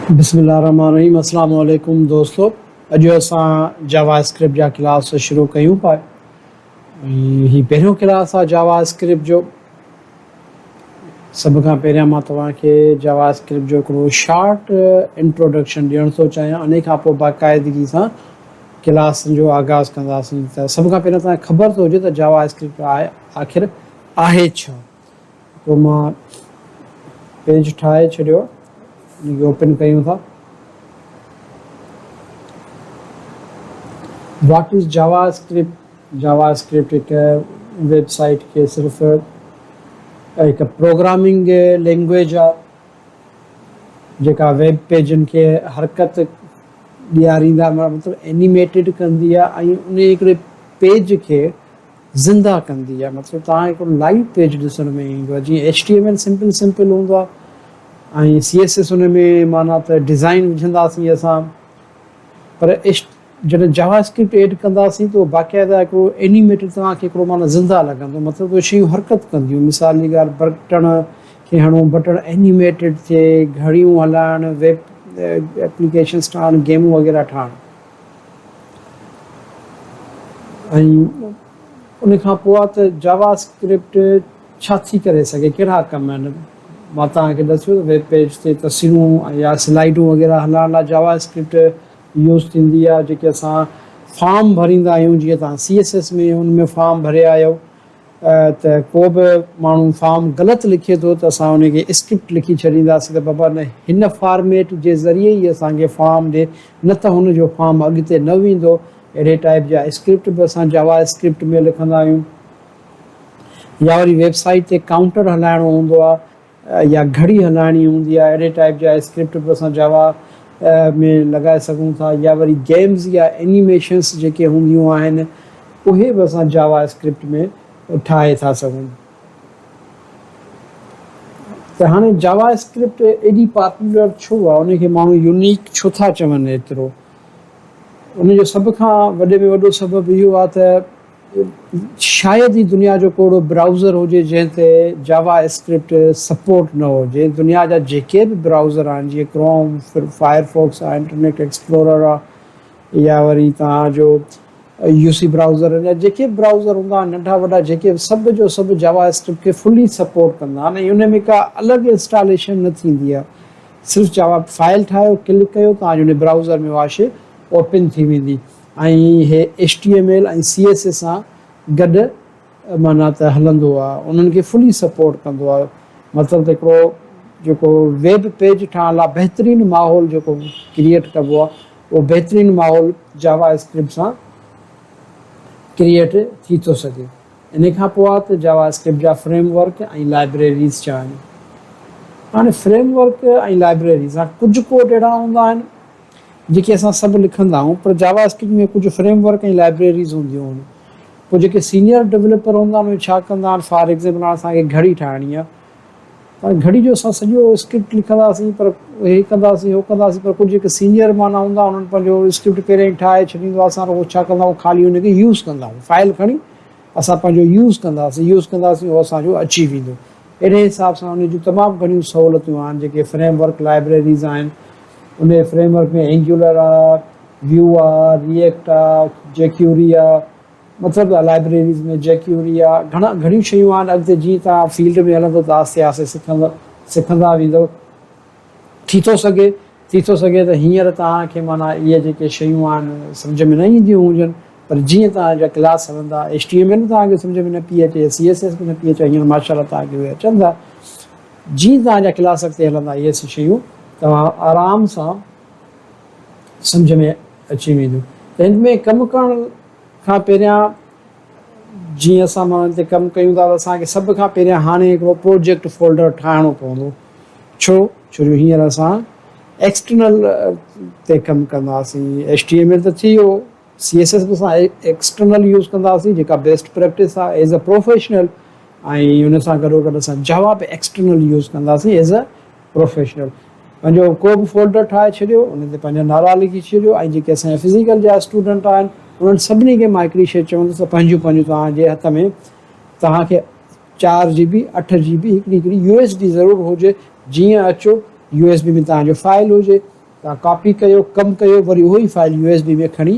بسم الله الرحمن الرحيم السلام عليڪم دوستو اڄ اسان جاوا اسڪرپٽ جا ڪلاس شروع ڪيون پاء هي پهريون ڪلاس آ جاوا اسڪرپٽ جو سڀ کان پهريان مان توهان کي جاوا اسڪرپٽ جو هڪڙو شارٽ انٽروڊڪشن ڏيڻ ٿو چاهيان انهي کان پوء باقاعدگي سان ڪلاس جو آغاز ڪنداسين ته سڀ کان پهريان توهان کي خبر ته هجي ته جاوا اسڪرپٽ آخر آهي ڇا پوء مان پيج ٺاهي ڇڏيو ان کي اوپن ڪيون ٿا what is JavaScript JavaScript هڪ ويب سائيٽ کي صرف هڪ پروگرامنگ لينگويج آ جيڪا ويب پيجن کي حرڪت ڏياريندا مطلب اينيميٽيڊ ڪندي آ ۽ ان هڪڙي پيج کي زنده ڪندي آهي مطلب توهان کي هڪڙو لائيو پيج ڏسڻ ۾ ايندو آهي جيئن H T M L simple simple هوندو آهي ۽ سي ايس ايس ان ۾ معنيٰ ته ڊزائين وجهنداسين اسان پر ايڇ جڏهن جاوا اسڪرپٽ ايڊ ڪنداسين ته باقاعده هڪڙو اينيميٽر توهان کي هڪڙو معنيٰ زنده لڳندو مطلب اهي شيون حرڪت ڪنديون مثال جي ڳالهه برٽڻ کي هڻو بٽڻ اينيميٽيڊ ٿئي گهڙيون هلائڻ ويب ايپليڪيشنس ٺاهڻ گيمون وغيره ٺاهڻ ۽ ان کان پوء ته جاوا اسڪرپٽ ڇا ٿي ڪري سگهي ڪهڙا ڪم آهن مان توهان کي ڏسيو ته ويب پيج تي تصويرون يا سلائيڊون وغيره هلائڻ لاء جاوا اسڪرپٽ يوز ٿيندي آهي جيڪي اسان فارم ڀريندا آهيون جيئن توهان سي ايس ايس ۾ ان ۾ فارم ڀري آيو ته ڪو به ماڻهو فارم غلط لکي ٿو ته اسان ان کي اسڪرپٽ لکي ڇڏينداسين ته بابا نه هن فارميٽ جي ذريعي ئي اسان کي فارم ڏي نه ته هن جو فارم اڳتي نه ويندو اهڙي ٽائيپ جا اسڪرپٽ به اسان جاوا اسڪرپٽ ۾ لکندا آهيون يا وري ويب سائيٽ تي ڪائونٽر هلائڻو هوندو آهي يا گهڙي هلائڻي هوندي آهي اهڙي ٽائيپ جا اسڪرپٽ به اسان جاوا ۾ لڳائي سگهون ٿا يا وري گيمز يا انيميشنس جيڪي هونديون آهن اهي به اسان جاوا اسڪرپٽ ۾ ٺاهي ٿا سگهون ته هاڻي جاوا اسڪرپٽ ايڏي پاپولر ڇو آهي ان کي ماڻهو يونيڪ ڇو ٿا چون ايترو ان جو سڀ کان وڏي ۾ وڏو سبب اهو آهي ته شايد هي دنيا جو ڪوڙو برائوزر هجي جنهن تي جاوا اسڪرپٽ سپورٽ نه هجي. دنيا جا جيڪي به برائوزر آهن جيئن ڪروم، فائر فوڪس آهي، انٽرنيٽ ايڪسپلورر آهي يا وري توهان جو يو سي برائوزر آهن يا جيڪي به برائوزر هوندا آهن ننڍا وڏا جيڪي به سڀ جو سڀ جاوا اسڪرپٽ کي فلي سپورٽ ڪندا آهن ۽ ان ۾ ڪا الڳ انسٽاليشن نه ٿيندي آهي صرف جاوا فائل ٺاهيو ڪلڪ ڪيو توهان جي ان برائوزر ۾ اها شي اوپن ٿي ويندي. ۽ هي H T M L ۽ C S S سان گڏ معنيٰ ته هلندو آ انهن کي فلي سپورٽ ڪندو آ مطلب ته هڪڙو جيڪو ويب پيج ٺاهڻ لاء بهترين ماحول جيڪو ڪريئيٽ ڪبو آ اهو بهترين ماحول جاوا اسڪرپٽ سان ڪريئيٽ ٿي ٿو سگهي انهي کان پوء آ ته جاوا اسڪرپٽ جا فريم ورڪ ۽ لائبريريز ڇا آهن هاڻي فريم ورڪ ۽ لائبريريز هاڻي ڪجهه ڪوڊ اهڙا هوندا آهن جيڪي اسان سڀ لکندا آهيون پر جاوا اسڪرپٽ ۾ ڪجهه فريم ورڪ ۽ لائبريريز هونديون آهن پوء جيڪي سينيئر ڊولپر هوندا آهن اهي ڇا ڪندا آهن فار ايگزيمپل هاڻ اسان کي گهڙي ٺاهڻي آهي هاڻي گهڙي جو اسان سڄو اسڪرپٽ لکنداسين پر هي ڪنداسين هو ڪنداسين پر ڪجهه جيڪي سينيئر معنيٰ هوندا آهن انهن پنهنجو اسڪرپٽ پهريان ئي ٺاهي ڇڏيندو آهي اسان رڳو ڇا ڪندا آهيون خالي ان کي يوز ڪندا آهيون فائل کڻي اسان پنهنجو يوز ڪنداسين يوز ڪنداسين اهو اسان جو اچي ويندو اهڙي حساب سان ان جون تمام گهڻيون سهولتيون آهن جيڪي فريم ورڪ لائبريريز آهن انهيء فريم ورڪ ۾ اينگيولر آرڪ، ويو آرڪ، ري ايڪٽ آرڪ، جيڪيوري آ، مطلب ته لائبريريز ۾ جيڪيوري آ، گهڻا گهڻيون شيون آهن، اڳتي جيئن توهان فيلڊ ۾ هلندو ته آهستي آهستي سکندا سکندا ويندو. ٿي ٿو سگهي ٿي ٿو سگهي ته هينئر توهان کي معنيٰ اهي جيڪي شيون آهن سمجهه ۾ نه اينديون هجن پر جيئن توهان جا ڪلاس هلندا HTML توهان کي سمجهه ۾ نه پئي اچي يا CSS به نه پئي اچي هينئر ماشاءالله توهان کي اهي اچن ٿا. جيئن توهان جا ڪلاس اڳتي هلندا اهي سڀ شيون توهان آرام سان سمجهه ۾ اچي وينديون ته هن ۾ ڪم ڪرڻ کان پهريان جيئن اسان ماڻهن تي ڪم ڪيون ٿا ته اسان کي سڀ کان پهريان هاڻي هڪڙو پروجيڪٽ فولڊر ٺاهڻو پوندو ڇو ڇو جو هينئر اسان ايڪسٽرنل تي ڪم ڪنداسين HTML ته ٿي ويو. سي ايس ايس به اسان ايڪسٽرنل يوز ڪنداسين جيڪا بيسٽ پريڪٽس آهي ايز اي پروفيشنل ۽ ان سان گڏو گڏ اسان جاوا به ايڪسٽرنل يوز ڪنداسين ايز اي پروفيشنل پنهنجو ڪو به فولڊر ٺاهي ڇڏيو ان تي پنهنجا نالا لکي ڇڏيو ۽ جيڪي اسان جا فزيڪل جا اسٽوڊنٽ آهن انهن سڀني کي مان هڪڙي شيء چوندس ته پنهنجون پنهنجون توهان جي هٿ ۾ توهان کي چار جي بي اٺ جي بي هڪڙي هڪڙي يو ايس بي ضرور هجي جيئن اچو يو ايس بي ۾ توهان جو فائل هجي تان ڪاپي ڪيو ڪم ڪيو وري اهو ئي فائل يو ايس بي ۾ کڻي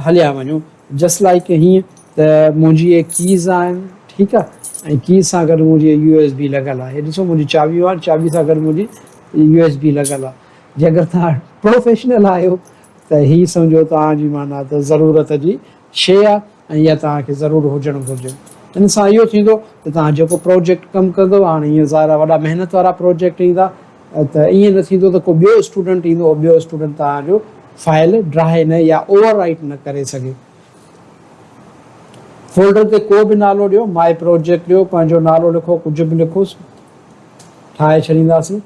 هليا وڃو جسٽ لائڪ هيئن ته منهنجي اهي ڪيز آهن ٺيڪ آهي ۽ ڪيز سان گڏ منهنجي يو ايس بي لڳل آهي هي ڏسو منهنجي چاٻيون آهن چاٻي سان گڏ منهنجي يو ايس بي لڳل آهي جي اگر توهان پروفيشنل آهيو ته هي سمجهو توهان جي معنيٰ ته ضرورت جي شيء آهي ۽ اها توهان کي ضرور هجڻ گهرجي. ان سان اهو ٿيندو ته توهان جيڪو پروجيڪٽ ڪم ڪندو هاڻ ايئن ظاهر آهي وڏا محنت وارا پروجيڪٽ ايندا ته ايئن نه ٿيندو ته ڪو ٻيو اسٽوڊنٽ ايندو اهو ٻيو اسٽوڊنٽ توهان جو فائل ڊراهي نه يا اوور رائيٽ نه ڪري سگهي. فولڊر تي ڪو به نالو ڏيو ماء پروجيڪٽ ڏيو پنهنجو نالو لکو ڪجهه به لکوس ٺاهي ڇڏينداسين.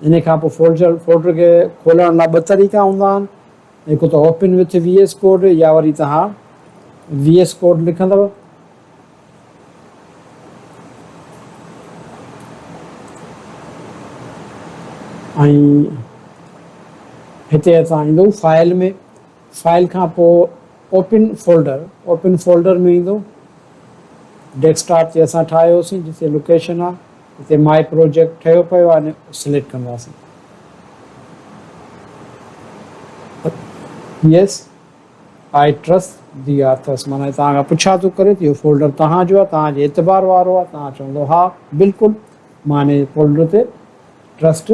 انهي کان پوء فولڊر فولڊر کي کولڻ لاء ٻه طريقا هوندا آهن هڪ ته open with V S code يا وري توهان وي ايس ڪوڊ لکندو ۽ هتي اسان ايندو فائل ۾ فائل کان پوء اوپن فولڊر اوپن فولڊر ۾ ايندو ڊيسڪٽاپ تي اسان ٺاهيوسين جتي لوڪيشن آهي هتي ماء پروجيڪٽ ٺهيو پيو آهي ۽ سليڪٽ ڪنداسين yes I trust the authors معنيٰ توهان کان پڇا ٿو ڪري ته اهو فولڊر توهان جو آهي توهان جي اعتبار وارو آهي توهان چوندو ها بلڪل مان هن فولڊر تي ٽرسٽ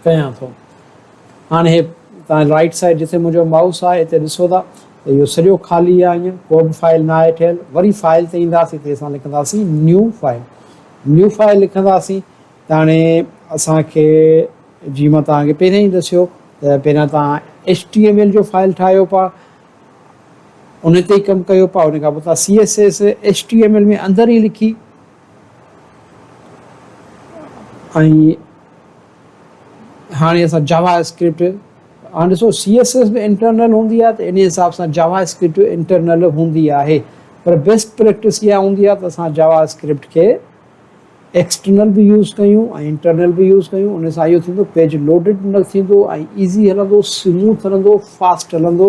ڪيان ٿو هاڻي هي تان رائيٽ سائيڊ جتي منهنجو مائوس آهي اتي ڏسو ٿا ته اهو سڄو خالي آهي هينئر ڪو به فائل نه آهي ٺهيل وري فائل تي اينداسين تي اسان لکنداسين نيو فائل نيو فائل لکنداسين ته هاڻي اسان کي جي مان توهان کي پهريان ئي دسيو ته پهريان توهان ايچ ٽي ايم ايل جو فائل ٺاهيو پا ان تي ئي ڪم ڪيو پا ان کان پوء توهان C S S H T M L ۾ اندر ئي لکي ۽ هاڻي اسان جاوا اسڪرپٽ هاڻي ڏسو سي ايس ايس به انٽرنل هوندي آهي ته ان حساب سان جاوا اسڪرپٽ به انٽرنل هوندي آهي پر بيسٽ پريڪٽس اها هوندي آهي ته اسان جاوا اسڪرپٽ کي ايڪسٽرنل به يوز ڪيون ۽ انٽرنل به يوز ڪيون ان سان اهو ٿيندو پيج لوڊڊ نه ٿيندو ۽ ايزي هلندو سموٿ هلندو فاسٽ هلندو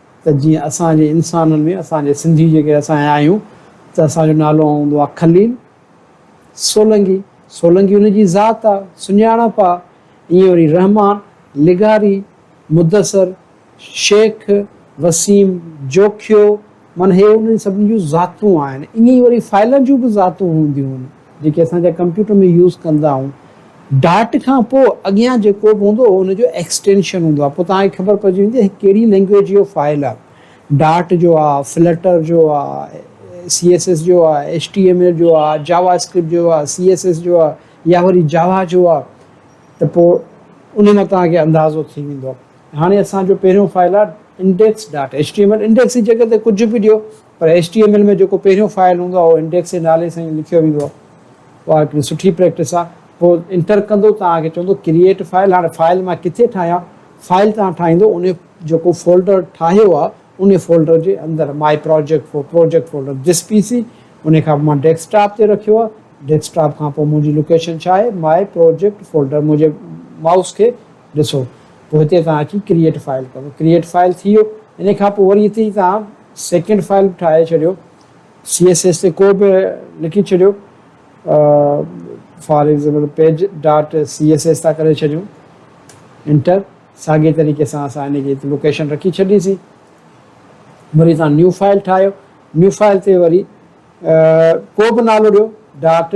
ته جيئن اسان جي انسانن ۾ اسان جي سنڌي جيڪي اسان آهيون ته اسان جو نالو هوندو آهي خليل سولنگي، سولنگي ان جي ذات آهي، سڃاڻپ آهي، ائين وري رحمان، لغاري، مدثر، شيخ، وسيم، جوکيو، معنيٰ هي انهن سڀني جون ذاتون آهن، ائين ئي وري فائلن جون به ذاتون هونديون آهن. جيڪي اسان جا ڪمپيوٽر ۾ يوز ڪندا آهيون ڊاٽ کان پوء اڳيان جيڪو به هوندو اهو ان جو ايڪسٽينشن هوندو آهي پوء توهان کي خبر پئجي ويندي هي ڪهڙي لينگويج جو فائل آهي ڊاٽ جو آهي فلٽر جو آهي سي ايس ايس جو آهي ايڇ ٽي ايم ايل جو آهي جاوا اسڪرپٽ جو آهي سي ايس ايس جو آهي يا وري جاوا جو آهي ته پوء ان مان توهان کي اندازو ٿي ويندو هاڻي اسان جو پهريون فائل آهي index dot H T M L index جي جڳهه تي ڪجهه به ڏيو پر ايڇ ٽي ايم ايل ۾ جيڪو پهريون فائل هوندو آهي اهو انڊيڪس جي نالي سان ئي لکيو ويندو آهي اها هڪڙي سٺي پريڪٽس آهي پوء انٽر ڪندو توهان کي چوندو ڪريئيٽ فائل هاڻي فائل مان ڪٿي ٺاهيان فائل توهان ٺاهيندو انهي جيڪو فولڊر ٺاهيو آهي انهي فولڊر جي اندر my project for project folder this PC سي انهي کان پوء مان ڊيسڪ ٽاپ تي رکيو آهي ڊيسڪ ٽاپ کان پوء منهنجي لوڪيشن ڇا آهي مائي پراجيڪٽ فولڊر منهنجي مائوس کي ڏسو پوء هتي توهان اچي ڪريئيٽ فائل ڪندو ڪريئيٽ فائل ٿي ويو انهي کان پوء وري هتي توهان سيڪنڊ فائل به ٺاهي ڇڏيو سي ايس ايس تي ڪو به لکي ڇڏيو for example page dot C S S ٿا ڪري ڇڏيون انٽر ساڳي طريقي سان اسان ان جي لوڪيشن رکي ڇڏيسي وري تان نيو فائل ٺاهيو نيو فائل تي وري ڪو به نالو ڏيو ڊاٽ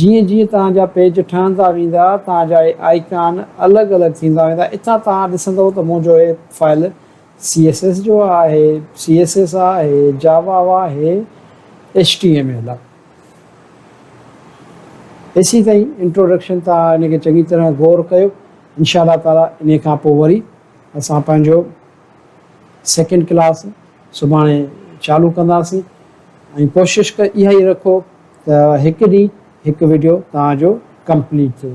جيئن جيئن توهان جا پيج ٺهندا ويندا توهان جا هي آئيڪان الڳ الڳ ٿيندا ويندا اتان توهان ڏسندو ته منهنجو هي فائل css جو آهي css آهي java آهي html آهي ايسين تائين انٽروڊڪشن توهان ان کي چڱي طرح غور ڪيو انشاء الله تعالي انهي کان پوء وري اسان پنهنجو سيڪنڊ ڪلاس سڀاڻي چالو ڪنداسين ۽ ڪوشش اها ئي رکو ته هڪ ڏينهن هڪ وڊيو توهان جو ڪمپليٽ ٿئي.